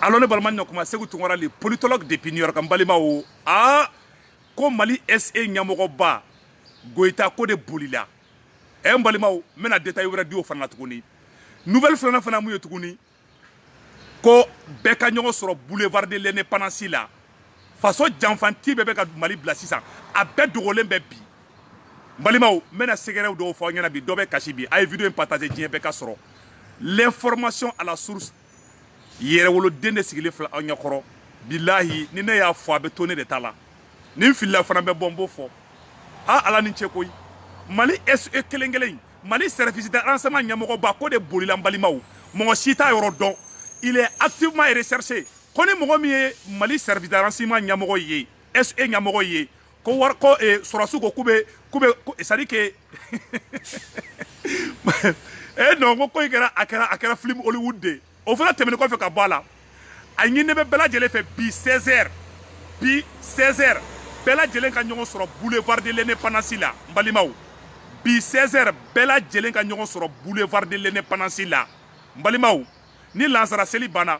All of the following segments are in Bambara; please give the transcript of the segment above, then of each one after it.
alors ne balima ɲakuma seku tunkara le politologue depuis new york n balimaw a ko mali se ɲɛmɔgɔba goyita k'o de bolila ɛ n balimaw n bɛna detail wɛrɛ di o fana la tuguni nouvelle filanan fana mun ye tuguni ko bɛɛ ka ɲɔgɔn sɔrɔ boulevard de l'indépendance la faso janfanti bɛɛ bɛ ka mali bila sisan a bɛɛ dogolen bɛ bi n balimaw n bɛna secretw dɔw fɔ aw ɲɛna bi dɔ bɛ kasi bi a ye video in partage diɲɛ bɛɛ k'a sɔrɔ l'information à la source yɛrɛwoloden de sigilen filɛ aw ɲɛkɔrɔ bilahi ni ne y'a fɔ a bɛ to ne de ta la ni n filila fana bɛ bɔ n b'o fɔ a ala ni ce koyi mali se kelen kelen mali service de renseignement ɲɛmɔgɔba k'o de bolila n balimaw mɔgɔ si t'a yɔrɔ dɔn il est activement recherché ko ni mɔgɔ min ye mali service de renseignement ɲɛmɔgɔ ye se ɲɛmɔgɔ ye ko wari ko eh, sɔrɔsiw ko k'u bɛ k'u bɛ ko c'est à dire que eh non ko ko in kɛra a kɛra a kɛra film Hollywood de ye o fana tɛmɛnen kɔfɛ ka bɔ a la a ɲininen bɛ bɛɛ lajɛlen fɛ bi 16 heures bi 16 heures bɛɛ lajɛlen ka ɲɔgɔn sɔrɔ boulevard de l'indépendance la n balimaw bi 16 heures bɛɛ lajɛlen ka ɲɔgɔn sɔrɔ boulevard de l'indépendance la n balimaw ni lansara seli banna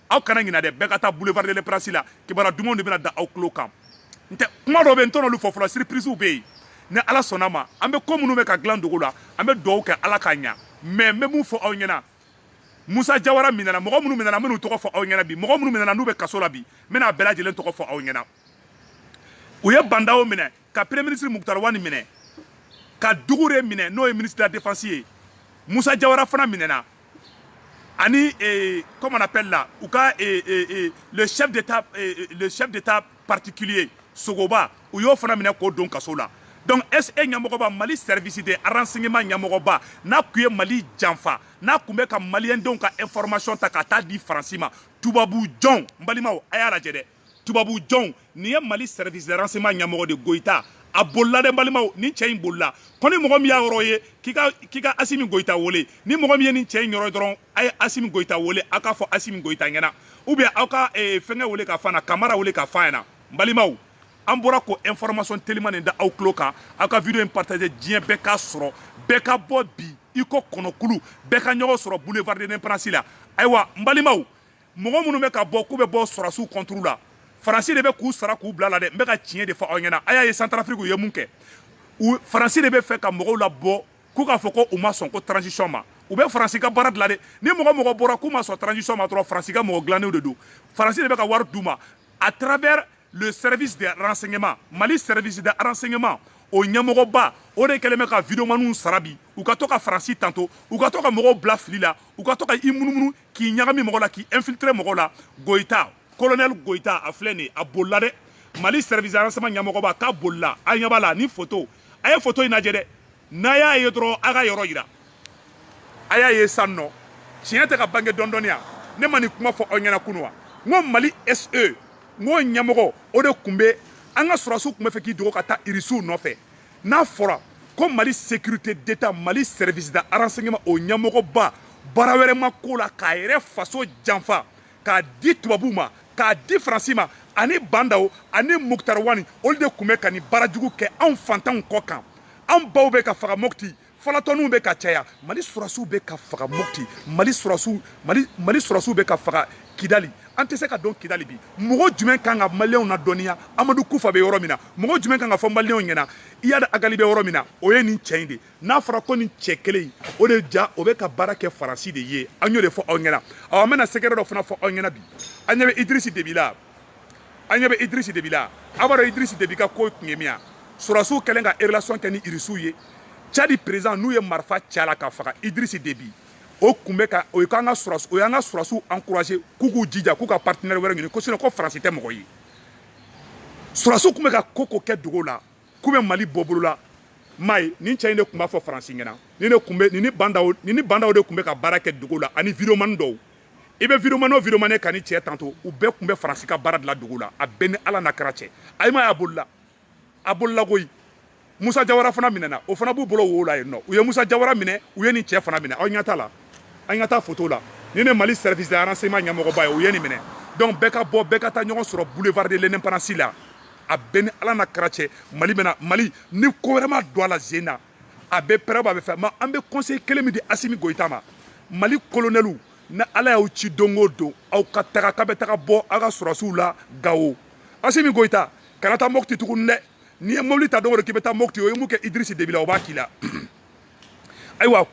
aw kana ɲina dɛ bɛɛ ka taa boulevard de l'indépendance la kibara dumanw de bɛna da aw tulo kan n tɛ kuma dɔ bɛ n tɛn'olu fɔ fɔlɔ surprisew bɛ yen ni ala sɔnn'a ma an bɛ ko minnu bɛ ka dilan dogo la an bɛ dugawu kɛ ala k'a ɲa mais n bɛ mun fɔ aw ɲɛna musa jawara minɛna mɔgɔ minnu minɛna n bɛn'u tɔgɔ fɔ aw ɲɛna bi mɔgɔ minnu minɛna n'u bɛ kaso la bi n bɛna bɛɛ lajɛlen tɔgɔ fɔ aw ɲɛna u ye ba ndawo minɛ ka premier ministre mukutari wani minɛ ka dukure minɛ n'o ye ministre de la défense ye musa jawara fana minɛna ani eh, comment on appelle là u ka eh, eh, eh, le chef d'état eh, eh, le chef d'état particulier sogoba u y'o fana minɛ k'o don kaso la donc se ɲɛmɔgɔba mali service de renseignement ɲɛmɔgɔba n'a kun ye mali janfa n'a kun bɛ ka maliyɛndenw ka information ta ka taa di faransi ma tubabu jɔnw n balimaw a y'a lajɛ dɛ tubabu jɔnw nin ye mali service de renseignement ɲɛmɔgɔ de goyita a bolila dɛ balimaw nin cɛ in bolila ko ni mɔgɔ min y'a yɔrɔ ye k'i ka k'i ka asimi goyita wele ni mɔgɔ min ye nin cɛ in yɔrɔ dɔrɔn a ye asimi goyita wele aw k'a fɔ asimi goyita ɲɛna ou bien aw ka eh, fɛngɛ wele ka fana kamara wele k'a f'a ɲɛna n balimaw an bɔra k'o information teliman nin da aw tulo kan aw ka video in partage diɲɛ bɛɛ k'a sɔrɔ bɛɛ ka bɔ bi i ko kɔnɔkulu bɛɛ ka ɲɔgɔn sɔrɔ boulevard de l'indépendance la ayiwa n balimaw mɔgɔ minnu bɛ ka bɔ k'u bɛ bɔ sɔrɔsiw contre la faransi de bɛ k'u sara k'u bil'a la dɛ n bɛ ka tiɲɛ de fɔ aw ɲɛna a y'a ye santarafiriki u ye mun kɛ faransi de bɛ fɛ ka mɔgɔw labɔ k'u k'a fɔ ko u ma sɔn ko transition ma u bɛ faransi ka baara de la dɛ ni mɔgɔ mɔgɔ bɔra k'u ma sɔn transition ma dɔrɔn faransi ka mɔgɔ dilannenw de don faransi de bɛ ka wari d'u ma à travers le service de renseignement mali service de renseignement o ɲɛmɔgɔba o de kɛlen bɛ ka videomaniw sara bi u ka to ka faransi tando u ka to ka mɔgɔw bila fili la u ka to ka i munumunu k'i ɲagami mɔgɔ la k'i infiltré mɔgɔ la goyita colonel goyita a filɛ nin a bolila dɛ mali service renseignement ɲɛmɔgɔba k'a bolila a ɲɛ b'a la ni photo a ye photo in lajɛ dɛ n'a y'a ye dɔrɔn a ka yɔrɔ yira a y'a ye san nɔ tiɲɛ tɛ ka bange dɔɔnin dɔɔnin ya ne ma nin kuma fɔ aw ɲɛna kunu wa n ko mali se n ko ɲɛmɔgɔ o de tun bɛ an ka sɔrɔsiw tun bɛ fɛ k'i dogo ka taa irisiw nɔfɛ n'a fɔra ko mali sécurité d'état mali service de renseignement o ɲɛmɔgɔba baara wɛrɛ ma k'o la k'a yɛrɛ faso janfa k'a di tubabuw ma k'a di faransi ma ani ba ndaw ani mukutari wani olu de tun bɛ ka nin baara jugu kɛ anw fantanw kɔ kan anw baw bɛ ka faga mopti falatɔninw bɛ ka caya mali sɔrɔsiw bɛ ka faga mopti mali sɔrɔsiw mali mali sɔrɔsiw bɛ ka faga kidali an tɛ se ka don kidali bi mɔgɔ jumɛn kan ka maliyɛnw nadɔnniya amadu kufa bɛ yɔrɔ min na mɔgɔ jumɛn kan k'a fɔ maliyɛnw ɲɛna iyad agali bɛ yɔrɔ min na o ye nin cɛ in de n'a fɔra ko nin cɛ kelen in o de ja o bɛ ka baara kɛ faransi de ye an y'o de fɔ aw ɲɛna awa an bɛna secret dɔ fana fɔ aw ɲɛna bi an ɲɛ bɛ idirisi debi la an ɲɛ bɛ idirisi debi la aw b'a dɔn idirisi debi ka ko tun ye min ya sɔrɔsiw kɛlen ka relation kɛ ni irisiw ye cadi président n'u ye marifa ci a la k'a faga idirisi debi o tun bɛ ka o y'an ka sɔrɔsi o y'an ka sɔrɔsiw encourager k'u k'u jija k'u ka partenaire wɛrɛ ɲini ko sinon ko faransi tɛ mɔgɔ ye sɔrɔsiw tun bɛ ka ko ko kɛ dogo la k'u bɛ mali bɔ bolo la mais nin cɛ in de tun b'a fɔ faransi ɲɛna nin de tun bɛ nin ni ba ndaw nin ni ba ndaw de tun bɛ ka baara kɛ dogo la ani videomani dɔw i bɛ videomani ye videomani ye ka nin cɛ tanto u bɛɛ tun bɛ faransi ka baara dilan dogo la a bɛɛ ni ala n'a kira cɛ a m'a ye a bolila a bolila koyi musa jawara fana minɛna o fana b'u bolo wo la yen nɔ u ye musa jawara minɛ u ye nin cɛ fana minɛ aw ɲɛ t'a la aw ɲɛ t'a foto la nin ye mali service de renseignement ɲɛmɔgɔba ye u ye nin minɛ donc bɛɛ ka bɔ bɛɛ ka taa ɲɔgɔn sɔrɔ boulevard de l'indépendance la a bɛɛ ni ala n'a kira cɛ mali bɛna mali ni ko wɛrɛ ma don a la zen na a bɛ pɛrɛw a bɛ fɛn mais an bɛ conseil kelen min di asimi goyita ma mali kolonɛliw ni ala y'aw ci don o don aw ka taga k'a bɛ taga bɔ aw ka sɔrɔsiw la gawo asimi goyita kana taa mopti tuguni dɛ n'i ye mobili ta don o don k'i bɛ taa mopti o ye mun kɛ idirisi debi la o b'a k'i la ayiwa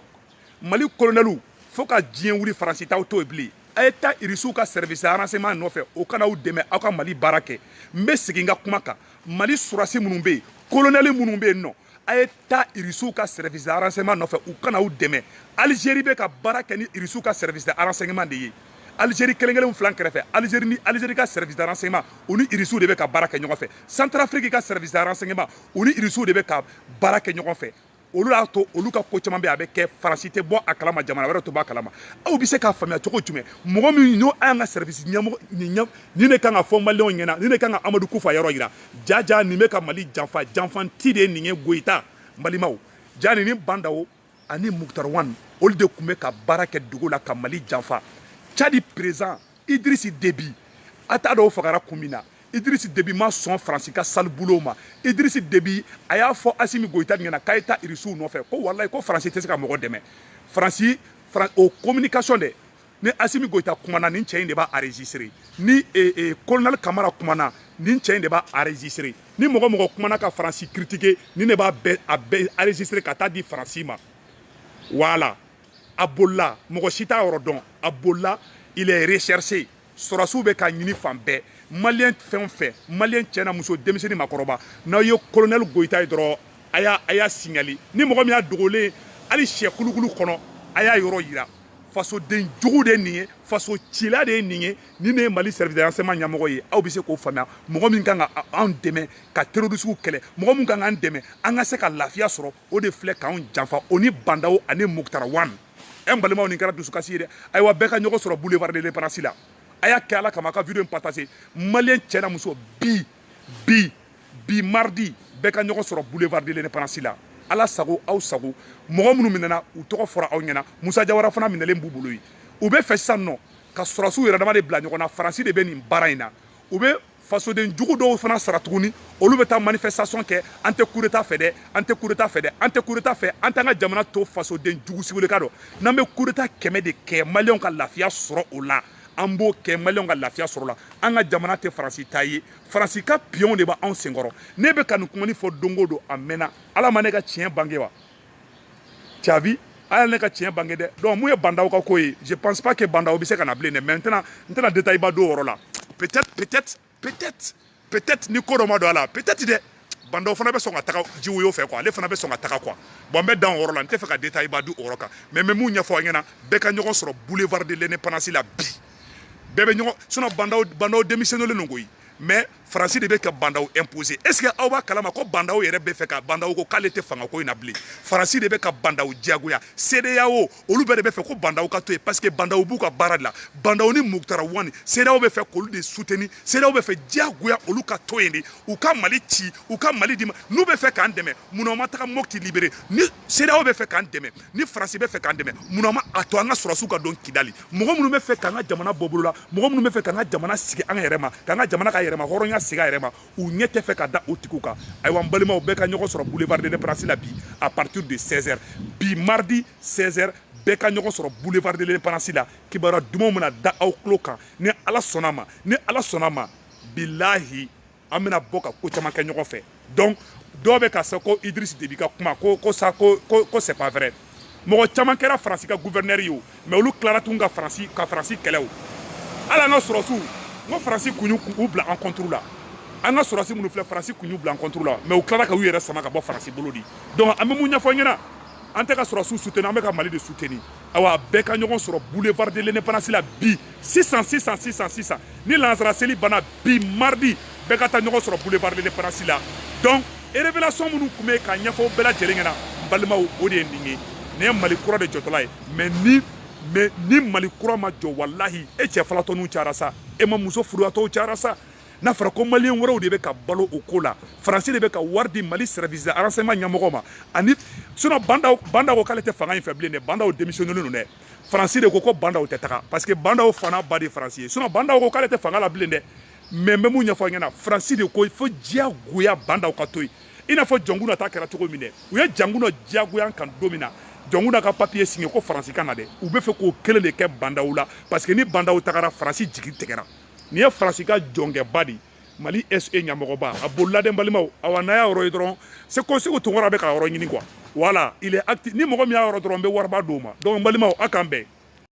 mali kolonɛliw fo ka diɲɛ wuli faransi t'aw to yen bilen a ye taa irisiw ka service renseignement nɔfɛ o ka na aw dɛmɛ aw ka mali baara kɛ n bɛ segin n ka kuma kan mali sɔrɔsi minnu bɛ yen kolonɛli minnu bɛ yen nɔ a ye taa irisiw ka service de renseignement nɔfɛ u ka na aw dɛmɛ alizeri bɛ ka baara kɛ ni irisiw ka service de renseignement de ye alizeri kelen kelen fil'an kɛrɛfɛ alizeri ni alizeri ka service de renseignement u ni irisiw de bɛ ka baara kɛ ɲɔgɔn fɛ santarafiriki ka service de renseignement u ni irisiw de bɛ ka baara kɛ ɲɔgɔn fɛ olu y'a to olu ka ko caman bɛ a bɛ kɛ faransi tɛ bɔ a kalama jamana wɛrɛ tɛ bɔ a kalama aw bɛ se k'a faamuya cogo jumɛn mɔgɔ min n'o an ka service ɲɛmɔgɔ nin de kan k'a fɔ maliyɛnw ɲɛna nin de kan ka amadu kufa yɔrɔ yira jaa jaa nin bɛ ka mali janfa janfanti de nin ye goyita balimaw jaa nin ni bandaw ani mukutari wani olu de tun bɛ ka baara kɛ dugu la ka mali janfa cadi président idirisi debi a t'a dɔn o fagara kun min na idirisi debi ma sɔn faransi ka sale boulot ma idirisi debi a y'a fɔ asimi goyita ɲɛna k'a ye taa irisiw nɔfɛ ko walayi ko faransi tɛ se ka mɔgɔ dɛmɛ faransi o communication dɛ ni asimi goyita kumana nin cɛ in de b'a enregistré ni eh, eh, colonel kamara kumana nin cɛ in de b'a enregistré ni mɔgɔ o mɔgɔ kumana ka faransi critiqué nin de b'a bɛɛ a bɛɛ enregistré ka taa di faransi ma voilà a bolila mɔgɔ si t'a yɔrɔ dɔn a bolila il est recherché sɔrɔsiw bɛ k'a ɲini fan bɛɛ maliyɛn fɛn o fɛn maliyɛn cɛ n'a muso denmisɛnnin maakɔrɔba n'aw ye colonel goyita ye dɔrɔn a y'a a y'a signalé ni mɔgɔ min y'a dogolen hali sɛ kulukulu kɔnɔ a y'a yɔrɔ yira fasoden jugu de ye nin ye faso cila de ye nin ye nin de ye mali service de renseignement ɲɛmɔgɔ ye aw bɛ se k'o faamuya mɔgɔ min kan ka anw dɛmɛ ka terorisiw kɛlɛ mɔgɔ min kan k'an dɛmɛ an ka se ka lafiya sɔrɔ o de filɛ k'anw janfa o ni bandaw ani mukutari wani ɛ n balimaw nin kɛra dusukasi ye dɛ ayiwa bɛɛ ka ɲɔgɔn sɔrɔ boulevard de l'indépendance la a y'a kɛ ala kama a ka video in partagé maliyɛn cɛ n'a muso bi bi bi mardi bɛɛ ka ɲɔgɔn sɔrɔ boulevard de l'indépendance la ala sago aw sago mɔgɔ minnu minɛna u tɔgɔ fɔra aw ɲɛna musa jawara fana minɛlen b'u bolo yen u bɛ fɛ sisan nɔ ka sɔrɔsiw yɛrɛ dama de bila ɲɔgɔn na faransi de bɛ nin baara in na u bɛ fasoden jugu dɔw fana sara tuguni olu bɛ taa manifestation kɛ an tɛ kudeta fɛ dɛ an tɛ kudeta fɛ dɛ an tɛ kudeta fɛ an t'an ka jamana to fasoden jugu si bilen k'a dun n'an bɛ kudeta kɛmɛ de kɛ maliyɛnw ka lafiya sɔrɔ o la an b'o kɛ maliyɛnw ka lafiya sɔrɔ la an ka jamana tɛ faransi ta ye faransi ka piyɔnw de bɛ anw senkɔrɔ ne bɛ ka nin kuma nin fɔ don o don a mɛnna ala ma ne ka tiɲɛ bange wa t'as vu ala ne ka tiɲɛ bange dɛ donc mun ye bandaw ka ko ye je pense pas que bandaw bɛ se ka na bilen dɛ mais n tɛna n tɛna détail ba don o yɔrɔ la peut-être peut-être peut-être peut-être ni ko dɔ ma don a la peut-être dɛ bandaw fana bɛ sɔn ka taga jiwoyo fɛ quoi ale fana bɛ sɔn ka taga quoi bon n bɛ dan o yɔrɔ la n tɛ fɛ ka détail ba di o yɔrɔ kan mais n bɛ mun ɲɛfɔ aw ɲɛna bɛɛ ka ɲɔgɔn sɔrɔ boulevard de l'indépendance la bi bɛɛ bɛ ɲɔgɔn sinon bandaw bandaw démissionnélen don koyi mais faransi de bɛ ka bandaw imposer est ce que aw b'a kalama ko bandaw yɛrɛ bɛ fɛ ka bandaw ko k'ale tɛ fangako in na bilen faransi de bɛ ka bandaw diyagoya sedeyawo olu bɛɛ de bɛ fɛ ko bandaw ka to yen parce que bandaw b'u ka baara de la bandaw ni mukutari wani sedeyawo bɛ fɛ k'olu de suteni sedeyawo bɛ fɛ diyagoya olu ka to yen de u ka mali ci u ka mali di u ma n'u bɛ fɛ k'an dɛmɛ munna u ma taga mɔpti libéré ni sedeyawo bɛ fɛ k'an dɛmɛ ni faransi bɛ fɛ k'an dɛmɛ munna u m'a to an ka sɔrɔsiw ka don kidali mɔgɔ minnu bɛ fɛ k'an ka jamana bɔ bolo la mɔgɔ minnu bɛ fɛ k'an ka jamana segin an yɛrɛ ma k'an ka jamana ka yɛrɛmahɔrɔnya segin a yɛrɛ ma u ɲɛ tɛ fɛ ka da o tigiw kan ayiwa n balimaw bɛɛ ka ɲɔgɔn sɔrɔ boulevard de l'indépendance la bi à partir de 16 heures bi mardi 16 heures bɛɛ ka ɲɔgɔn sɔrɔ boulevard de l'indépendance la kibaruya dumanw bɛna da aw tulo kan ni ala sɔnna ma ni ala sɔnna ma bilahi an bɛna bɔ ka ko caman kɛ ɲɔgɔn fɛ donc dɔw bɛ k'a fɔ ko idris debi ka kuma ko ko c'est pas vrai mɔgɔ caman kɛra faransi ka guvɛrinɛri ye o mais olu tilara tun ka faransi kɛlɛ o hali an ka sɔrɔsiw n ko faransi kun y'u bila an contre la an ka sɔrɔsi minnu filɛ faransi kun y'u bila an contre la mais u tilara ka u yɛrɛ sama ka bɔ faransi bolo di donc an bɛ mun ɲɛfɔ ɲɛna an tɛ ka sɔrɔsiw suteni an bɛ ka mali de suteni awa bɛɛ ka ɲɔgɔn sɔrɔ boulevard de l'indépendance la bi sisan sisan sisan sisan ni lansara seli banna bi mardi bɛɛ ka taa ɲɔgɔn sɔrɔ boulevard de l'indépendance la donc révélation minnu tun bɛ k'a ɲɛfɔ aw bɛɛ lajɛlen ɲɛna n balimaw o de ye nin ye nin ye mali kura de jɔtɔla ye mais ni mais ni mali kura ma jɔ walahi e cɛ falatɔninw cayara sa e ma muso furuyatɔw cayara sa n'a fɔra ko maliyɛn wɛrɛw de bɛ ka balo o ko la faransi de bɛ ka wari di mali service de renseignement ɲɛmɔgɔ ma ani sinon bandaw ko k'ale tɛ fanga in fɛ bilen dɛ bandaw démissionnélen don dɛ faransi de ko ko bandaw tɛ taga parce que bandaw fa n'a ba de ye faransi ye sinon bandaw ko k'ale tɛ fanga la bilen dɛ mais n bɛ mun ɲɛfɔ ɲɛna faransi de ko fo diyagoya bandaw ka to yen i n'a fɔ jɔnkuna ta kɛra cogo min dɛ u ye jɔnkuna diyagoya kan don min na jɔnkuna ka papiye siɲɛ ko faransi ka na dɛ u bɛ fɛ k'o kelen de kɛ bandaw la parce que ni bandaw tagara faransi jigi tigɛra nin ye faransi ka jɔnkɛba de ye mali se ɲamɔgɔba a bolila dɛ n balimaw awa n'a y'a yɔrɔ ye dɔrɔn seku seku tunkara bɛ k'a yɔrɔ ɲini quoi voilà il est actif ni mɔgɔ min y'a yɔrɔ dɔrɔn n bɛ wariba d'o ma donc n balimaw a k'an bɛn